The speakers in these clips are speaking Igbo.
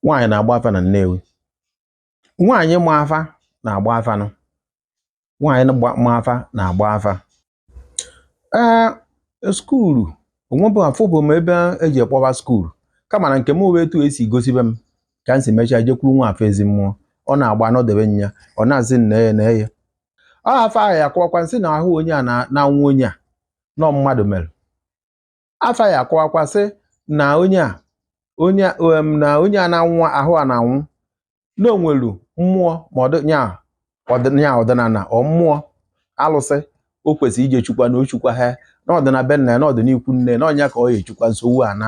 nwaanyị na-agba afa na Nnewi nwaanyị ma afa na-agba afa nụ nwaanyị gba- ma afa na-agba afa ee skuulu onwebụ afụbụ m ebe eji ekpọba skuulu kama na nke m wee etu esi gosibe m ka m si mechaa jekwuru nwa afọ ezi mmụọ ọ na-agba anọdebe nya ọ na-asị nne ya na ya ọ afa ahụ ya akọwakwa sị na ahụ onye a na- na-anwụ onye a na ọ mmadụ mere afa ya akọwakwa sị na onye a onye na onye a na-anwụ ahụ a na-anwụ na o nwelu mmụọ ma ọdịnya ọdịnya ọdịnala ọ mmụọ alụsị o kwesịrị ije chukwa na ochukwa ha na ọ dị na be nna ya na ọ dị n'ikwu nne na ọ nya ka ọ ya echukwa nsogbu a na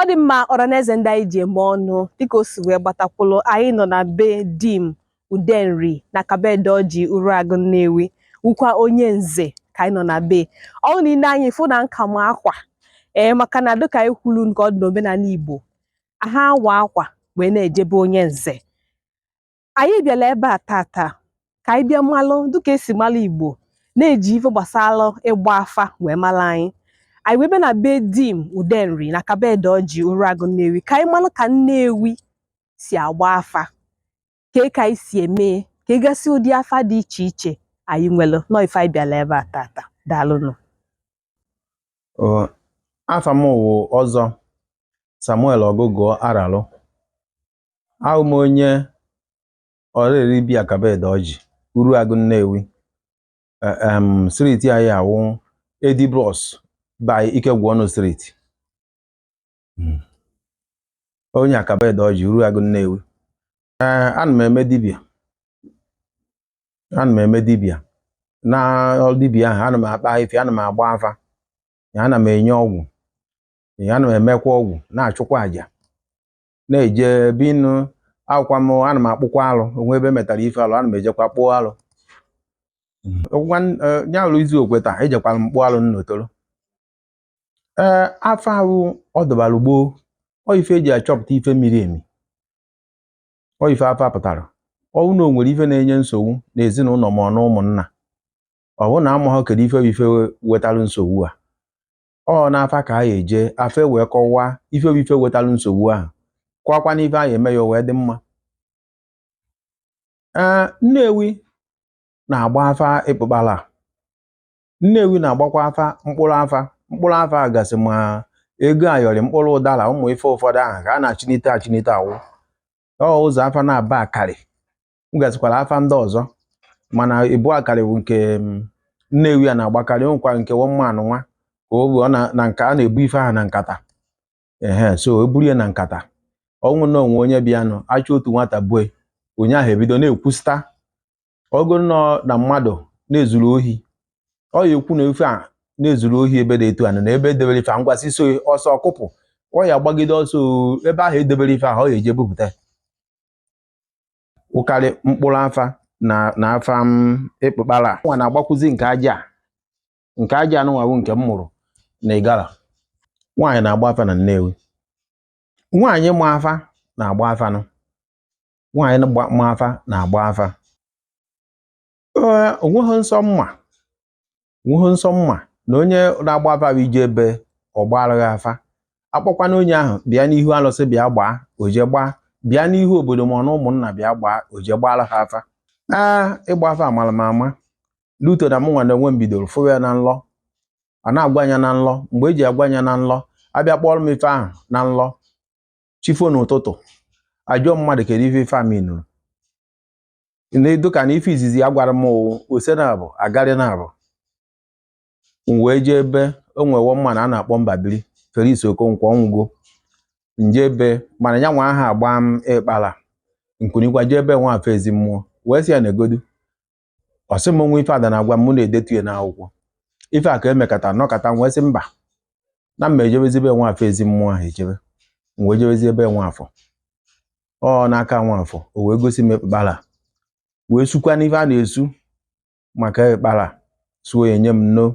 ọ dị mma ọra na eze ndị anyị ji eme ọnụ dịka o si wee gbatakwụlụ anyị nọ na be dim udenri na akaboedoji uruagụ nnewi wụkwa onye nze ka anyị nọ na be ọ wụ na i lee anya ị fụ na m ka ma akwa ee maka na dịka anyị kwuru nke ọ dị n'omenala igbo ha awa akwa wee na-eje be onye nze anyị bịara ebe a tata ka anyị bịa malụ dịka esi malụ Igbo na-eji ife gbasara ịgba afa wee mara anyị anyị wee bịa na be Dim Udenri na Akaboedoji Uruagụ Nnewi ka anyị malụ ka Nnewi si agba afa ka ka anyị si eme ka ị gasị ụdị afa dị iche iche anyị nwere na ọ ife anyị bịara ebe a tata daalụnụ afa m wụ Ọzọ Samuel Ọgụgụọ Aralụ awụ m onye Ọraeri bi Akaboedoji Uruagụ Nnewi Eh, em, streeti anyị awụ edi bros by Ikegwuọnụ streeti Mm. onye Akaboedoji Uruagụ Nnewi ee ana m eme dibịa ana m eme dibịa na ọrụ dibịa ahụ ana m akpa ife ana m agba afa ya ana m enye ọgwụ ya ana m emekwa ọgwụ na-achụkwa àjà na-eje ebe ịnụ agwụkwa m ana m akpụkwa alụ onwee ebe metara ife alụ ana m ejekwa kpụọ alụ ọgwụgwa ya alụ izu okwe taa ejekwara m kpụọ alụ n'Otolo ee afa awụ ọdịbara gboo ọ ife eji achọpụta ife miri emi ọ ife afa pụtara ọ wụ na o nwere ife na-enye nsogbu n'ezinụlọ ma ọ na ụmụnna ọ bụ na amaghọ kedu ife bụ ife wetara nsogbu a ọ n'afa ka anyị eje afa wee kọwaa ife bụ ife wetalụ nsogbu ahụ kọwakwa na ife anyị eme ya wee dị mma ee Nnewi na-agba afa ịkpụkpala Nnewi na-agbakwa afa mkpụrụ afa mkpụrụ afa gasị ma ego ayọrị mkpụrụ ụdara ụmụ ife ụfọdụ ahụ ka a na-achịnite achịnite awụ ọ ụzọ afa naabọ a karị m gasịkwara afa ndị ọzọ mana ịbụa karị wụ nke mm, Nnewi a na-agbakarị o nwekwara nke one man nwa ka o bụ ọ na na nka a na-ebu ife ahụ na nkata ehe so e buru ya na nkata ọ wụ na o nwee onye bịanụ a chọọ otu nwata bue onye ahụ ebido na-ekwusta ogo nọ na mmadụ na-ezuru ohi ọ ya ekwu na ife a na-ezuru ohi ebe dị etu a na ebe edebere ife a ngwasị so ọsọ ọ kụpụ ọ ya gbagide ọsọ oo, ebe ahụ edebere ife ahụ ọ ya eje bupụta wụkarị mkpụrụ afa na na afa m ịkpụkpara nwa na-agbakwụzi nke aja a. nke aja anụnwa wụ nke m mụrụ na Igala nwaanyị na-agba afa na Nnewi nwaanyị ma afa na-agba afa nụ nwaanyị gba- ma afa na-agba afa o nweghị nsọ mma o nweghị nsọ mana onye na-agba afa bụ i jee be ọ gbaara ghị afa a kpọkwanụ onye ahụ bịa n'ihu alụsị bịa gbaa o jee gbaa bịa n'ihu obodo ma ọ na ụmụnna bịa gbaa o jee gbaara ha afa aa ịgba afa amara m ama luto na mụnwa na onwe m bidoro fụwa ya na nlọ a na-agwa m ya na nlọ mgbe e ji agwa m ya na nlọ a bịa kpọọrọ m ife ahụ na nlọ chi fo n'ụtụtụ ajụọ mmadụ kedu ife ife a m nụrụ na-edo ka na ife izizi a gwara m wụ ose naabọ agarị naabọ m wee jee ebe o nwe one man a na-akpọ Mbabili Felix Okonkwo ọ nwụgo m jee be mana ya nwa aha agba m ịkpara m kunikwa jee ebe Nwafọ Ezimmụọ wee sị ya neegodu ọ sị m nwa ife ada na-agwa m na-edetu ya n'akwụkwọ ife a ka emekata nọkata m wee sị mba na m ma ejebezi ebe Nwafọ Ezimmụọ ahụ ejebe m wee jebezi ebe Nwafọ ọ n'aka Nwafọ o wee gosi m ịkpụkpara wee sukwanụ ife a na-esu maka ịkpụkpara suo ya nye m nno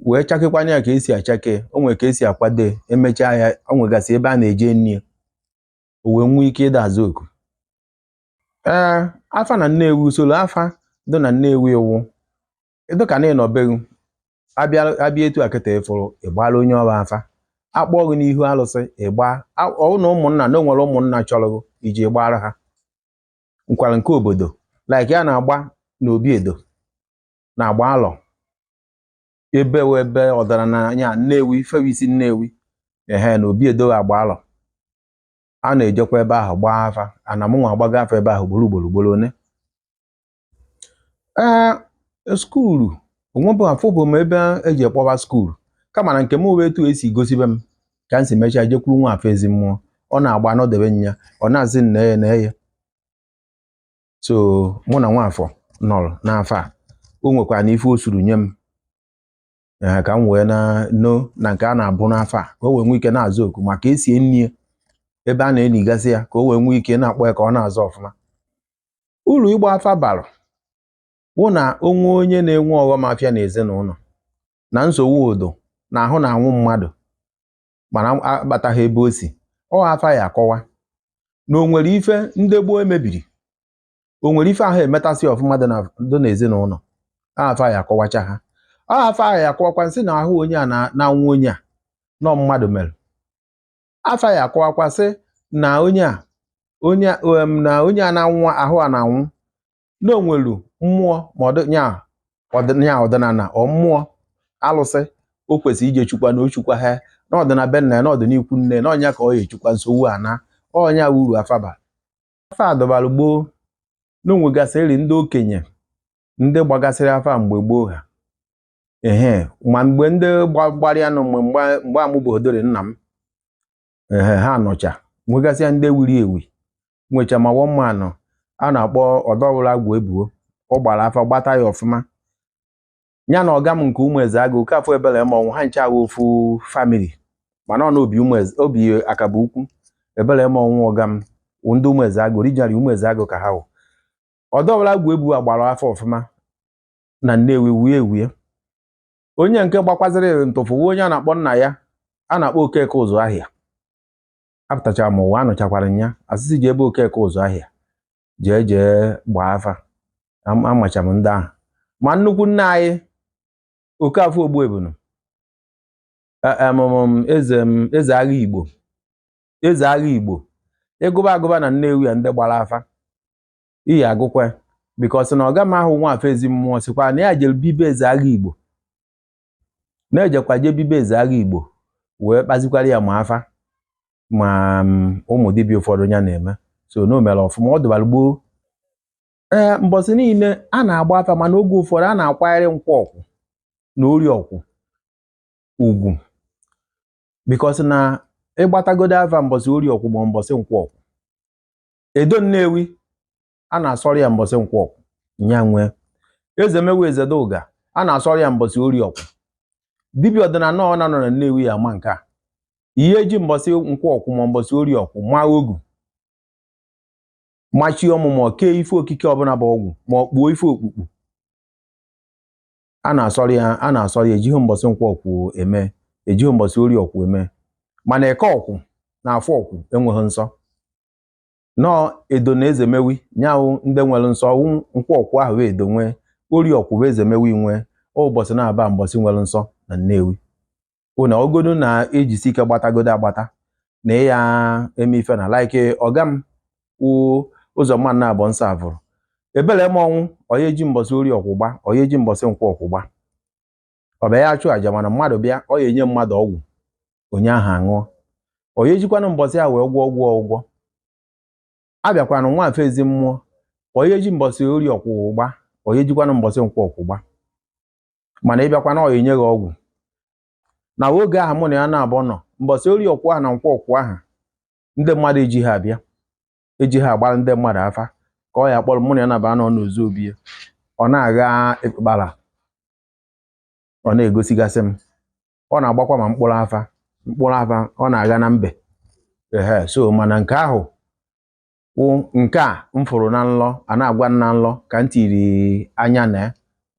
wee chakekwanye ya ka e si achake o nwere ka e si akwado ya emechaa ya o nwegasị ebe a na-eje nri ya o wee nwee ike ịda azụ oku ee afa na Nnewi usoro afa dị na Nnewi wụ dụ ka na ị nọ be ghị a bịa a bịa etu a kịta ị fụrụ ị gbaara onye ọra afa a kpọọ gị n'ihu alụsị ịgba a- ọ wụ na ụmụnna na o nwere ụmụnna chọrọ gị iji gbaara ha nwekwara nke obodo like a na-agba n'obi Edo na-agba alọ ebe wụ ebe ọdara na ya Nnewi ifewe isi Nnewi ehe na obi Edo agba alọ a na-ejekwa ebe ahụ gbaa afa ana mụnwa agbago afa ebe ahụ ugboro ugboro ugboro one ee e, skuulu o nwebụ afụbụ m ebe e ji ya kpọba skuulu kama na nke m wụ etu e si gosibe m ka m si mechaa jekwuru Nwafọ Ezimmụọ ọ na-agba m nọdebe ya ọ na-azị nna ya na eye so mụ na Nwafọ nọrọ n'afa o nwekwara na ife o suru nye m ee ka m wee na no na nke a na-abụ n'afọ a ka o wee nwee ike na-aza oku maka esie nri ebe a na-eligasị ya ka o wee nwee ike na-akpọ ya ka ọ na-aza ọfụma uru ịgba afa bara wụ na o nwee onye na-enwe ọghọm afịa na ezinụlọ na nsogbu ọdọ na ahụ na-anwụ mmadụ mana akpataghị ebe o si ọ afa ya akọwa na o nwere ife ndị gboo emebiri o nwere ife aha emetasị ọfụma dị na- dị n'ezinụlọ afa ya akọwacha ha ọ afa ya akọwakwa sị na ahụ onye a na- na-anwụ onye a na ọ mmadụ mere afa ya akọwakwa sị na onye a onye a- em, na onye a na-anwụ ahụ a na-anwụ na o nwere mmụọ ma ọ dị nya ọdị- nya ọdịnala ọ mmụọ alụsị o kwesịrị ije chukwa na o chukwa ha na ọ dị na be nna ya na ọ dị n'ikwu nne na ọ nya ka ọ ya echukwa nsogbu a na ọ nya uru afa ba afa adọbara gboo na o nwegasịrị ndị okenye ndị gbagasịrị afa mgbe gboo ha ehe ma mgbe ndị gbara ya nọ mgbe mgbe amụbodori nna m ehe ha nọcha nwegasịa ndị wuru ewu nwecha ma wọmma anọ a na-akpọ ọdọwụrụ agwụ ebuo ọ gbara afa gbata ya ọfụma ya na ọga m nke ụmụ eze agụ Okafọ Ebele ma ọnwụ ha ncha awụ ofu family mana ọ na obi ụmụ eze obi akaba ukwu Ebele ma ọnwụ ọga m wụ ndị ụmụ eze agụ originally ụmụ eze agụ ka ha wụ ọdọwụrụ agwụ ebuo gbara afa ọfụma na Nnewi wuye ewuye onye nke gbakwaziri ntụfụ wụ onye a na-akpọ nna ya a na-akpọ Okeke ụzụ ahịa apụtachara m ụwa anụchakwara m ya a sị sị jee be Okeke ụzụ ahịa jee jee gbaa afa amacha m ndị ahụ ma nnukwu nna anyị Okafọ Ogbuebunu e, eze eze agha Igbo eze agha Igbo ị gụba a gụba na Nnewi ya ndị gbara afa ị ya agụkwa because na ọga m ahụ Nwafọ ezi mmụọ sịkwa na ya jere bi be eze agha Igbo na-ejekwa je bi be eze agha igbo wee kpazikwara ya ma afa ma mm, ụmụ dibịa ụfọdụ ya na-eme so na o mere ọfụma ọ dụbara gboo ee mbọsị niile a na-agba afa mana oge ụfọdụ a na-akwanyere nkwọ ọkwụ na orie ọkwụ ugwu because na ịgbatagodo afa mbọsị orie ọkwụ ma mbọsị nkwọ ọkwụ edo nnewi a na-asọrọ ya mbọsị nkwọ ọkwụ nya nwee Ezemewi Ezeduga a na-asọrọ ya mbọsị orie ọkwụ dibịa ọdịnala ọ na-anọ na Nnewi ya ama nke a ihe eji mbọsị nkwọ ọkwụ ma mbọsị orie ọkwụ maa ogu machie ọmụmụ kee ife okike ọbụla bụ ọgwụ ma ọ kpuo ife okpukpu a na-asọrọ ya a na-asọrọ ya ejighị mbọsị nkwọ ọkwụ eme ejighị mbọsị orie ọkwụ eme mana eke ọkwụ na afọ ọkwụ enweghị nsọ nọọ edo na ezemewi nya wụ ndị nwere nsọ ọ wụ nkwọ ọkwụ ahụ edo nwee ori ọkwụ bụ ezemewi nwee ụbọsị naabọ mbọsị nwere nsọ na nnewi ụna ogodo na-ejisi ike gbatagodo agbata na ya eme ife na like ọga m wụ ụzọ mma na abọ nsọ avụrụ ebele m ọnwụ ọ ya eji mbọsị ori ọkwụ gba ọ ya eji mbọsị nkwọ ọkwụ gba ọ bịa ya achụ aja mana mmadụ bịa ọ ya enye mmadụ ọgwụ onye ahụ aṅụọ ọ ya ejikwanụ mbọsị ya wee gwọọ gwọọ ọgwụ abịakwanụ nwa afọ ezimmụọ ọ ya eji mbọsị ori ọkwụ ahụ gba ọ ya ejikwanụ mbọsị nkwọ ọkwụ gba mana ị bịakwana ọ ya enye gị ọgwụ na oge ahụ mụ na ya naabọ nọ mbọsị ori ọkwụ ahụ na nkwọ ọkwụ ahụ ndị mmadụ eji ha abịa eji ha agbara ndị mmadụ afa ka ọ ya kpọrọ mụ na ya naabọ nọ n'ozu obi ya ọ na-agha ikpukpara ọ na-egosigasị m ọ na-agbakwa ma mkpụrụ afa mkpụrụ afa ọ na-agha na mbe ehe so mana nke ahụ wụ nke a m fụrụ na nlọ a na-agwa na nlọ ka m tiri anya na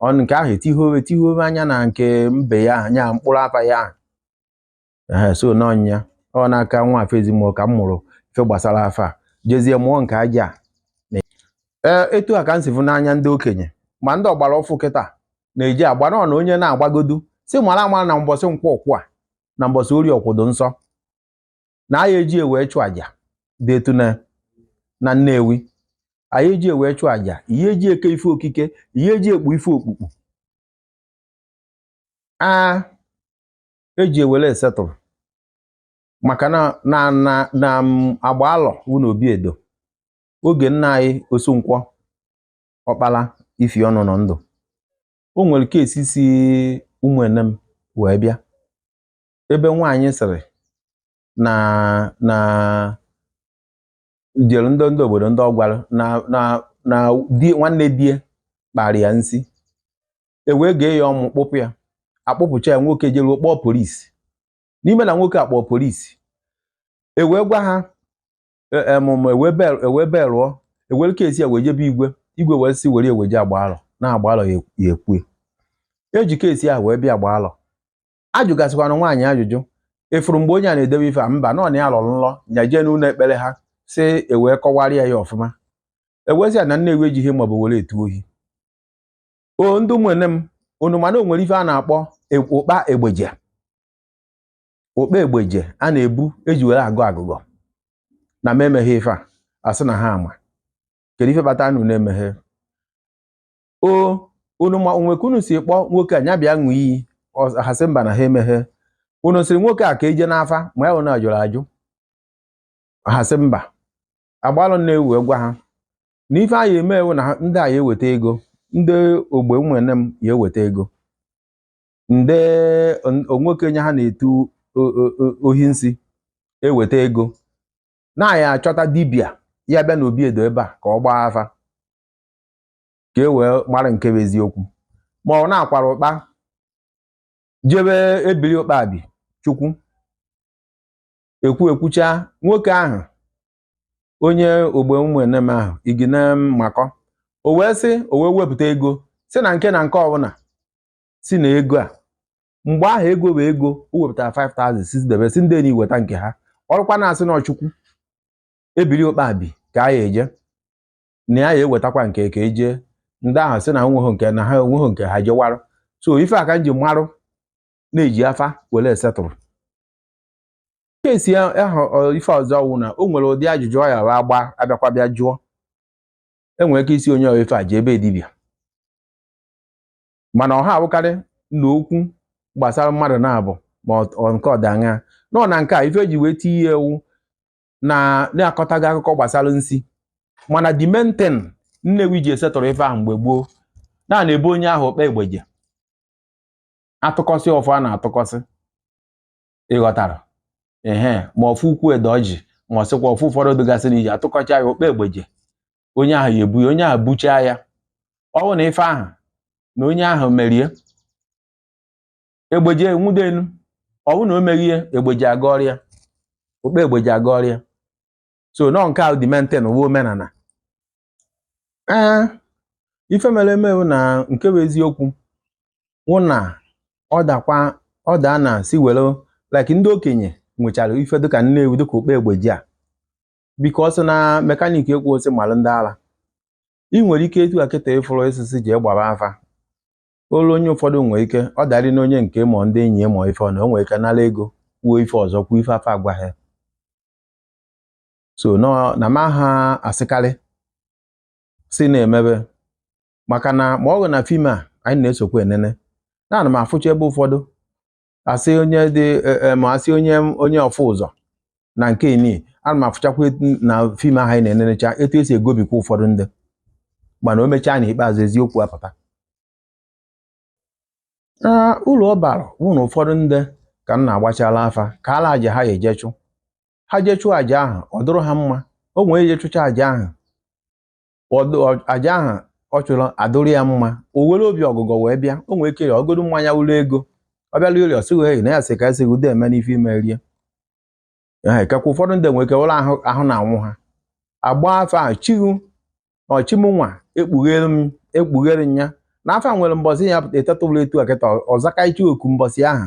ọ nke ahụ etihobe etihobe anya na nke mbe ya anya mkpụrụ afa ya ahụ ee so na ọ ya ọ n'aka nwa afọ ezimmụọ ka m mụrụ ife gbasara afa jezie mụọ nke aja a ee etu a ka m si fụ n'anya ndị okenye ma ndị ọgbara ọfụ kịta na-eji agba na onye na-agbagodu si mara amara na mbọsị nkwọ ọkwụ a na mbọsị ori ọkwụ dụ nsọ na anyị eji ewee chụ aja dị etu na na Nnewi anyị eji ewee chụ aja ihe eji eke ife okike ihe eji ekpu ife okpukpu a eji ewere esetụrụ maka na na na na agba alọ wụ na obi edo oge nna anyị osunkwọ ọkpara ifi ọnụ nọ ndụ o nwere kesi si ụmụenem wee bịa ebe nwaanyị sịrị na na jere ndị ndị obodo ndị ọ gwara na na na di nwanne di e kpara ya nsi e wee gee ya ọmụ kpụpụ ya akpụpụcha ya nwoke jeruo kpọọ polisi n'ime na nwoke akpọọ polisi e wee gwa ha em em e, e ewee e belụọ e were kesi ya wee jebe igwe igwe wee sị were e weje agba alọ na agba alọ ya ekwue eji kesi ahụ wee bịa agba alọ ajụgasịkwana nwaanyị ajụjụ efuru mgbe onye a na-edewe ife a mba nọ na ya lọrọ nlọ nya jee n'ụlọ ekpere ha si ewee kọwarịa ya ọfụma ewezi ya na nnewi ejighị maọbụ were etu ohi o ndị Ụmụenem unu ma na o nwere ife a na-akpọ e, ụkpa egbeje ụkpa egbeje a na-ebu e ji were agọ agụgọ na m emeghị ife a a sị na ha ama kedu ife kpatara unu na-emeghe o unu ma onwe ka unu si kpọọ nwoke a nya bịa ṅụọ iyi ha sị mba na ha emeghe unu sịrị nwoke a ka e je n'afa ma ya unu ajụrụ ajụ ha sị mba agbalụ Nnewi wee gwa ha na ife anyị eme wụ na ndị a ya eweta ego ndị ogbe Ụmụenem ya eweta ego ndị nwoke nye ha na-etu ohi nsi eweta ego na anyị achọta dibịa ya bịa na obi Edo ebe a ka ọ gbaa afa ka e wee mara nke bụ eziokwu ma ọ na a kwara ụkpa jebe Ebili Ụkpabi Chukwu ekwu ekwucha nwoke ahụ onye ogbe Ụmụenem ahụ igine mmakọ o wee sị o wee wepụta ego sị na nke na nke ọbụla sị na ego a mgbe ahụ ego bụ ego o wepụtara 5000 si debe sị ndị enyi weta nke ha ọ rụkwa na a sị na ọ Chukwu Ebiri Ụkpabi ka a ya eje na ya ya ewetakwa nke ka e je ndị ahụ sị na nweghị nke na ha enweghị nke ha jewarụ so ife a ka m ji marụ na e ji afa were esettle case ahụ ife ọzọ wụ na o nwere ụdị ajụjụ ọ ya agba a bịakwa bịa jụọ e nwere ike ịsị onye ife a jee be dibịa mana ọha awụkarị na okwu gbasara mmadụ naabọ ma nke ọdanya nọ na nke a ife e ji wee tinye wụ na na-akọta gị akụkọ gbasara nsi mana the main thing Nnewi ji esettle ife ahụ mgbe gboo na a na-ebu onye ahụ okpe egbeje a tụkọsị ọfọ a na-atụkọsị ị ghọtara ehe ma ọfọ ukwu Edoji ma ọ sịkwa ọfọ ụfọdụ dịgasị n'iji atụkọcha ya okpe egbeje onye ahụ ya ebu ya onye ahụ buchaa ya ọ bụrụ na ife ahụ na onye ahụ merie egbeje enwude enu ọ bụrụ na o meghie egbeje agọrịa okpe egbeje agọrịa so na ọ nke a wụ the main thing wụ omenala ee ife mere eme bụ na nke bụ eziokwu wụ na ọ dakwa ọ daa na a sị were like ndị okenye nwechara ife dịka Nnewi dịka okpe egbeje a because na mekaniki ekwu osị malụ ndị ara ị nwere ike etu a kịta ị fụrụ osisi ji gbara afa olu onye ụfọdụ nwee ike ọ darị na onye nke ma ndị enyi ma ife ọ na o nwere ike nara ego kwuo ife ọzọ kwuo ife afa agwaghị so na m aha asịkarị si na-emebe maka na ma ọ bụ na fim a anyị na-esokwa enene na ana m afụcha ebe ụfọdụ asị onye dị e, e, ma asị onye onye ọfụ ụzọ na nke ini ana m afụchakwa na fim ahụ anyị na-enenecha etu esi egobikwa ụfọdụ ndị mana o mechaa na ikpeazụ eziokwu apụta uru ọ bara wụ na ụfọdụ ndị ka m na-agbachala afa kaala aja ha eje chụ ha jee chụọ aja ahụ ọ dụrụ ha mma o were je chụcha aja ahụ aja ahụ ọ chụrụ adụrụ ya mma o were obi ọgụgọ wee bịa o nwee ike ya ọgodu mmanya ụlọ ego ọ bịala ori ọsịghị eyi na ya sị ka esi ude eme n'ife ime rie ekekwa ụfọdụ ndị nwere ike wụrụ ahụ na-anwụ ha agba afa ahụ chi ghụ na chi mụnwa ekpughere m ekpughere ya na afa nwere mbọsị ya eteta ụla etu akịta ọzakaichi oku mbọsị ahụ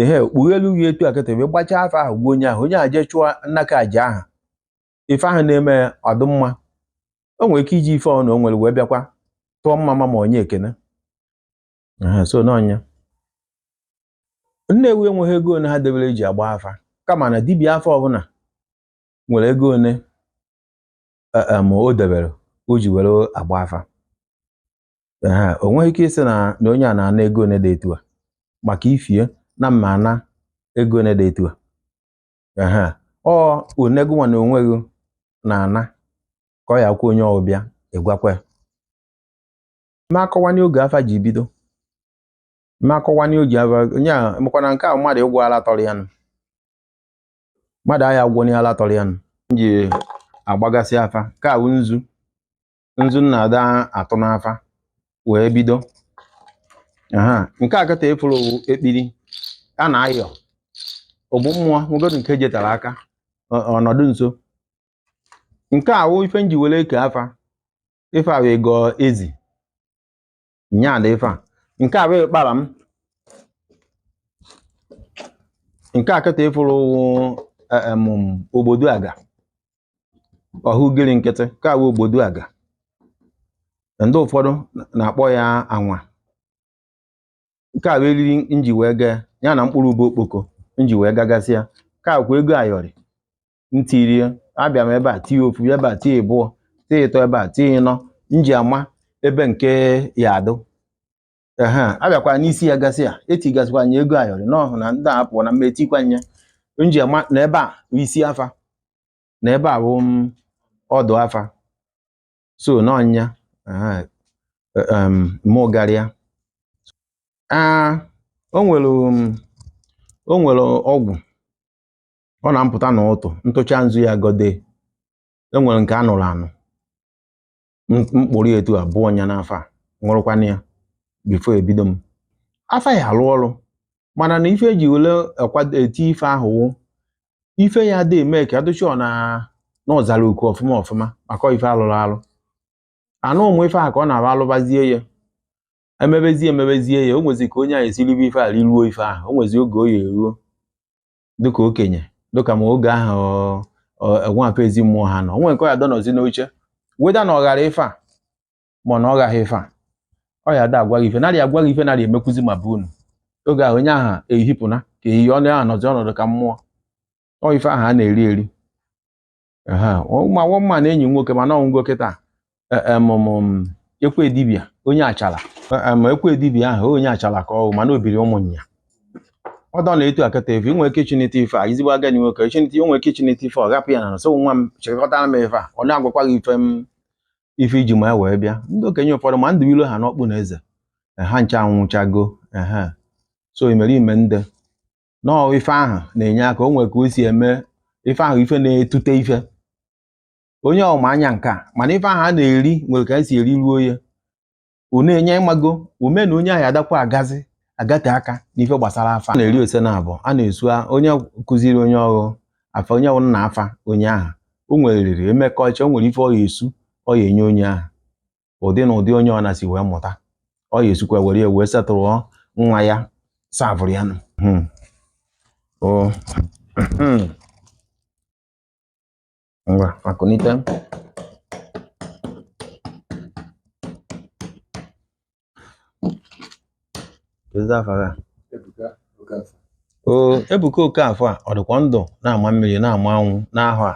ehe kpughelu gị etu akịta wee gbachaa afa ahụ gwa onye ahụ onye ahụ jee chụọ nnaka aja ahụ ife ahụ na-eme ọ dụ mma o nwere ike iji ife ọnụ o nwere wee bịakwa tụọ mmamma nye ekene so n'ọ ya Nnewi enweghị ego one ha debere eji agba afa kama na dibịa afa ọbụla nwere ego one e, e, ma o debere o ji were agba afa ee o nweghị ike ịsị na na onye a na-ana ego one dị etu a maka ife a na mma ana ego one dị etu a ee ọ onego nwa na onweghị na ana ka ọ ya kwuo onye ọbịa ịgwakwa ya ma akọwanye oge afa ji bido ma akọwanye oge afa onye a makwana nke a mmadụ ụgwọ ala tọrọ ya nụ mmadụ ahụ ụgwọ n'ihe ala tọrọ ya nụ m ji agbagasị afa ka a wụ nzu nzu na-ada atụ n'afa wee bido aha nke a kịta ị fụrụ ọ wụ ekpiri a na-ayọ ogbu mmụọ nwegodu nke jetara aka ọ- ọ nọdụ nso nke a wụ ife nji were eke afa ife a wee gọọ ezi nya dị ife a nke a bụ ịkpara m nke a kịta ị fụrụ em obodo aga ọ wụ ugiri nkịtị nke a bụ obodo aga ndị ụfọdụ na- na-akpọ ya anwa nke a bụ eriri nji wee gaa ya na mkpụrụ ube okpoko nji wee gagasịa nke a kwa ego ayọrị ntirie abịa m ebe a tie ofu ebe a tie ịbụọ tie ịtọ ebe a tie ịnọ m ji ama ebe nke ya adụ ehe abịakwa n'isi ya gasịa etigasịkwanye ego ayọrị n'ọhụ na ndị a pụọ na mma etikwanye m ji ama na ebe a bụ isi afa na ebe a bụ ọdụ afa so n'ọ ya ehe, e- em, mụ garịa Ah, o nwere um, o nwere ọgwụ ọ na-apụta na ụtụ ntụcha nzu ya gode enwere nke anụrụ anụ mkpụrụ etu abụọ ọnya n'afa a ṅụrụkwana ya before ebido m afa ya alụ ọrụ mana na ife eji wele eti ife ahụ wụ ife ya dị eme ka adụchi ọ na n'ọzara uku ọfụma ọfụma maka ife alụrụ alụ anụ ụmụ ife ahụ ka ọ na-abụ alụbazie ya emebezie emebezie ya o nwezi ka onye ahụ esiribe ife a riruo ife ahụ o nwezi oge o ya eruo dịka okenye dịka m oge ahụ ọ- ọ- enweghị ezi mmụọ ha nọ onwe nke ọ ya dọ nọzi n'uche whether na ọ ghara ife a ma ọ na ọ ghaghị ife a ọ ya ada agwa gị ife narị agwa gị ife narị emekwuzi ma bụ unu oge ahụ onye ahụ ehipụna ka eyi ọnụ ya nọzi ọnọdụ ka mmụọ ọ ife ahụ a na-eri eri nwa mma na enyi nwoke mana ọ nwụgo kịta e, e, ekwe dibia onye achala e, ma ekwe dibia ahụ onye achala ka ọhụ mana obiri ụmụnya ọ dọ na etu akata efe inwe ike chinete ife a izigbo agadi nwoke chinete inwe ike chinete ife ọ gapụ ya na nso nwa m chịkọtara m ife a ọ na-agwakwa gị ife m ife iji ma ya wee bịa ndị okenye ụfọdụ ma ndụ ilo ha n'ọkpụ na eze ha ncha anwụchago ehe so imerime ndị nọọ ife ahụ na-enye aka o nwere ka o si eme ife ahụ ife na-etute ife onye ọma anya nke a mana ife ahụ a na-eri nwere ka esi eri ruo ya ọ na-enye ị mago o me na onye ahụ adakwa agazi agate aka n'ife gbasara afa a na-eri ose na abụọ a na-esu onye kụziri onye ọghụ afa onye ọwụna afa onye ahụ o nwere riri emekọcha o nwere ife ọ ya esu ọ ya enye onye ahụ ụdị na ụdị onye ọ na si wee mụta ọ ya esikwa were ya wee setụrụ nwa ya savụrụ ya nụ hmm. hmm. ngwa akụnite Kedu afa gị? Oo, Ebuka Okafọ a ọ dịkwa ndụ na-ama mmiri na-ama anwụ n'ahụ a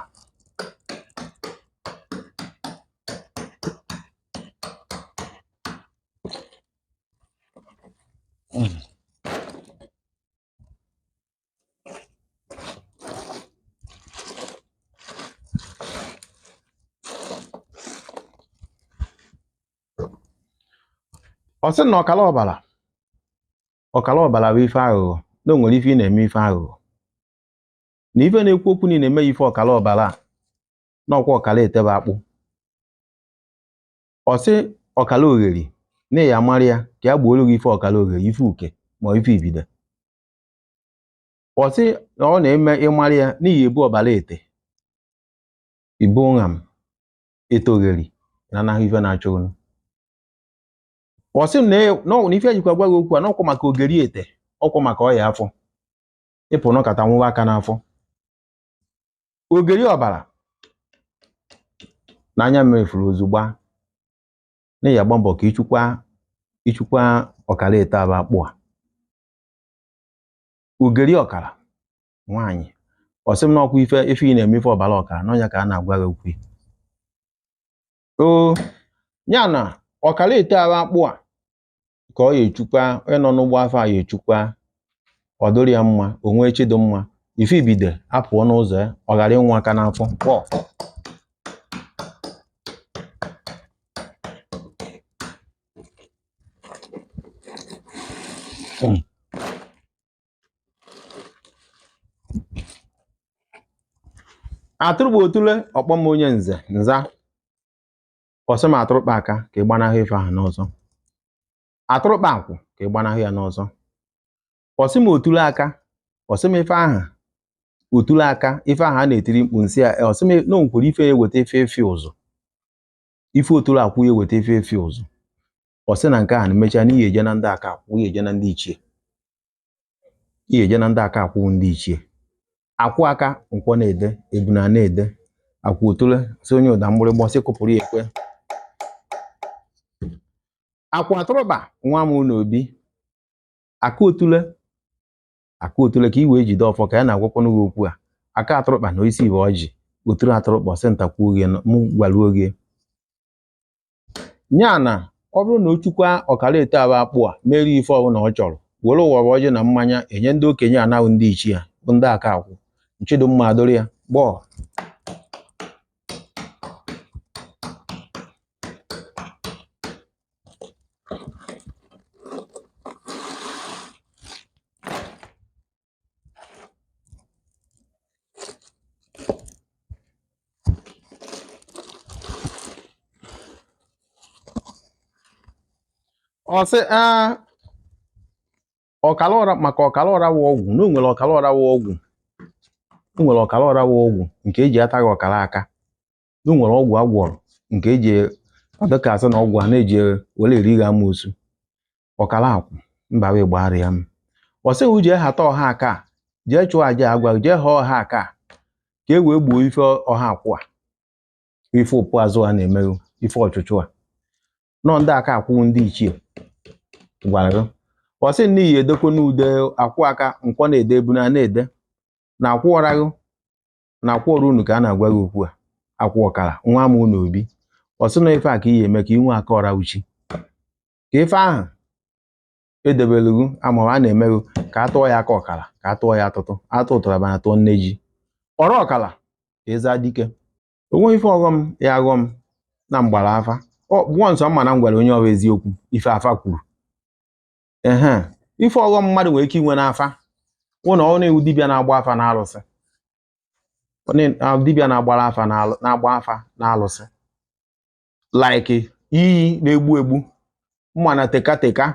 ọ sị na ọkala ọbara ọkala ọbara bụ ife aghụghọ na o nwere ife ị na-eme ife aghụghọ na ife na-ekwu okwu na ị na-eme ya ife ọkala ọbara a n'ọkwa ọkala ete aba akpụ ọ sị ọkala ogheri na ya mara ya ka ya gbooro gị ife ọkala ogheri ife uke ma ife ibide ọ sị na ọ na-eme ịmara ya n'ihi ebu ọbara ete ibu nha m ete ogheri na anahụ ife na-achọ unu ọ sị na ife ejikwa agwa gị okwu a n'ọkwa maka ogeri ete ọkwa maka ọya afọ ịpụ nọkata nwụwa aka n'afọ ogeri ọbara na anya mmefuru ozugbo na ya agba mbọ ka ịchụkwa ịchụkwa ọkara ete aba akpụ a ogeri ọkara nwaanyị ọ sị m na ọkwa ife ife ị na-eme ife ọbara ọkara n'ọnya ka a na-agwa gị okwu o ya na ọkara ete aba akpụ a ka ọ ya echukwa onye nọ n'ụgbọ afọ a ya echukwa ọ dịrị ya mma o nwee chi dị mma ife ibide apụọ n'ụzọ ya ọ ghara ịnwụ aka n'afọ atụrụkpa otule ọkpọm onye nze nza ọsị m atụrụkpa aka ka ị gbanahụ ife ahụ n'ọzọ atụrụkpa akwụ ka ị gbanahụ ya n'ọzọ ọsị m otule aka ọsị m ife ahụ otule aka ife ahụ a na-etiri mkpu nsị ya ọsị m na onwere ife eweta efe efe ụzụ ife otule akwụ ya eweta efe efe ụzụ ọsị na nke ahụ na emechaa na ihe eje na ndị aka akwụ ihe eje na ndị ichie ihe eje na ndị aka akwụ ndị ichie akwụ aka nkwọ na-ede ebuna na-ede akwụ otule si onye ụda mgbịrịgba si kụpụrụ ya ekwe akwụ atụrụkpa nwa m n'obi aka otule aka otule ka i wee jide ọfọ ka ya na-agwakwanụ gị okwu a aka atụrụkpa na isi bụ ọjị otule atụrụkpa ọsị ntakwuo gị mụ gwaruo gị ya na ọ bụrụ na o chukwa ọkara ete aba akpụ a mere ife ọbụla ọ chọrọ were ụwa ọjị na mmanya enye ndị okenye anahụ ndị ichie ya bụ ndị aka akwụ na chi dị mma adụrụ ya gbọọ ọ sị ọkala ọra maka ọkala ọra wụ ọgwụ na o nwere ọkala ọra wụ ọgwụ o nwere ọkala ọra wụ ọgwụ nke eji ata gị ọkala aka na o nwere ọgwụ agwọrọ nke eji ọdịka asị na ọgwụ a na-eji were eri gị amoosu ọkara akwụ mba wee gbagharịa m ọ sị ghị jee ha ta ọha aka jee chụọ aja agwa jee ha ọha aka ka e wee gbuo ife ọha akwụ a ife ụpụ azụ a na-emeghu ife ọchụchụ a nọ ndị aka akwụ ndị ichie gwara gị ọ sị n'ihi edekwa n'ude akwụ aka nkwọ na-ede ebu na na-ede na akwụ ọraghụ na akwụ ọrụ unu ka a na-agwa gị okwu a akwụ ọkara nwa m unu obi ọ sị na ife a ka ihe eme ka inwe aka ọra uchi ka ife ahụ edebelughu ama a na-emeghu ka a tụọ ya aka ọkara ka a tụọ ya atụtụ atụ ụtara bana tụọ nne ji ọrụ ọkara ka eze adike o nwe ife ọghọm ya aghọ m na m gbara afa ọkpụọ nsọ mana m gwara onye ahụ eziokwu ife afa kwuru ehe ife ọghọm mmadụ nwere ike inwe n'afa wụ na ọ na-ewu dibịa na-agba afa na alụsị dibịa na-agbara afa na-agba afa na alụsị like iyi na-egbu egbu mana tekateka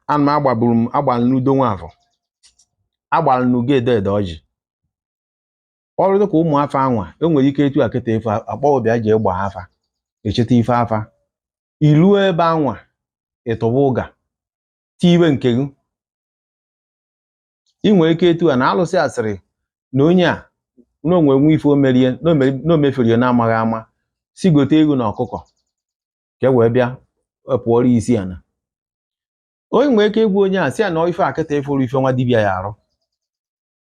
ana m agbaburu m agbara n'udo nwafọ agbara n'ugo edo edo ọjị ọrụ dịka ụmụ afa anwa e nwere ike etu akịta ife akpọọ bịa jee gbaa afa echeta ife afa iluo ebe anwa ịtụba ụga tiwe nke gị ị nwere ike etu a na alụsị a sịrị na onye a na o nwe nwe ife o mere na o mere- na o mefere ya na-amaghị ama sị gote ewu na ọkụkọ ka e wee bịa kpọọrọ ya isi ana onye nwere ike ịgwa onye a sị ya na ife akịta ị fụrụ ife nwa dibịa ya arụ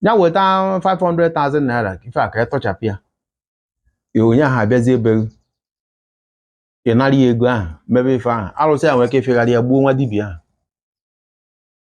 ya weta 500,000 naira ka ife a ka ya tọchapụ ya ya onye ahụ abịazie ebe gị ị nara ya ego ahụ mebe ife ahụ alụsị a nwere ike ifegharị ya gbuo nwa dibịa ahụ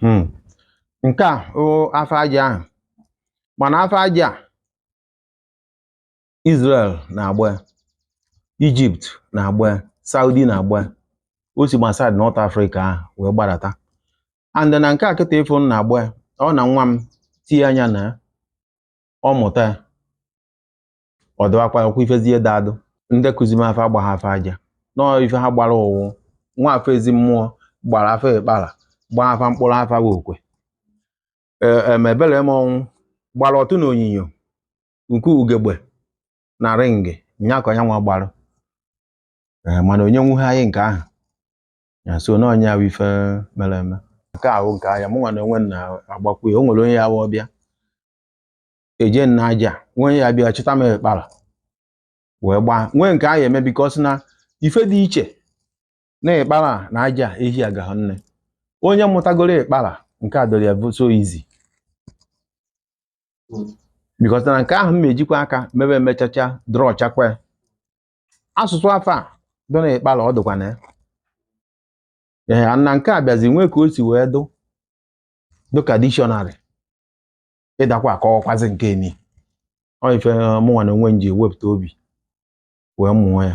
Hmm. nke a ọ afa aja ahụ mana afa aja a Israel na-agba ya, Egypt na-agba ya, Saudi na-agba ya. o si na side North Africa ahụ wee gbadata and na nke a kịta ị fụ m na-agba ya, ọ na nwa m tinye anya na ya ọ mụta ya ọ dịwakwa ọkwa ifezie dadụ ndị kụzi m afa agbaha afa aja nọọ ife ha gbara ụwụ nwa afa ezi mmụọ gbara afa ịkpara gbaa afa mkpụrụ afa bụ okwe emebere e, m ọnwụ gbara ọtụ na onyinyo nke ugegbe na ringị nya ka onye nwa gbara e, mana onye nwuhe anyị nke ahụ ya so na onye ahụ ife mere eme nke ahụ nke anya mụ nwa na onwe na-agbakwu ya o nwere onye ya-abịa eje nna aja nwee ya bịa chịta m ịkpara wee gbaa nwee nke ahụ eme because na ife dị iche na ịkpara na aja ehi agahụ nne onye mụtagoro ịkpara nke a dọrọ ya so easy because na nke ahụ m ejikwa aka mebe emechacha draw chakwa asụsụ afa dọ na ịkpara ọ dịkwa na ya ee na nke a bịazi nwee ka o si wee dụ dịka dictionary ị dakwa akọwakwazi nke ni ọ ife eh, mụnwa na onwe m ji wepụta obi wee mụọ ya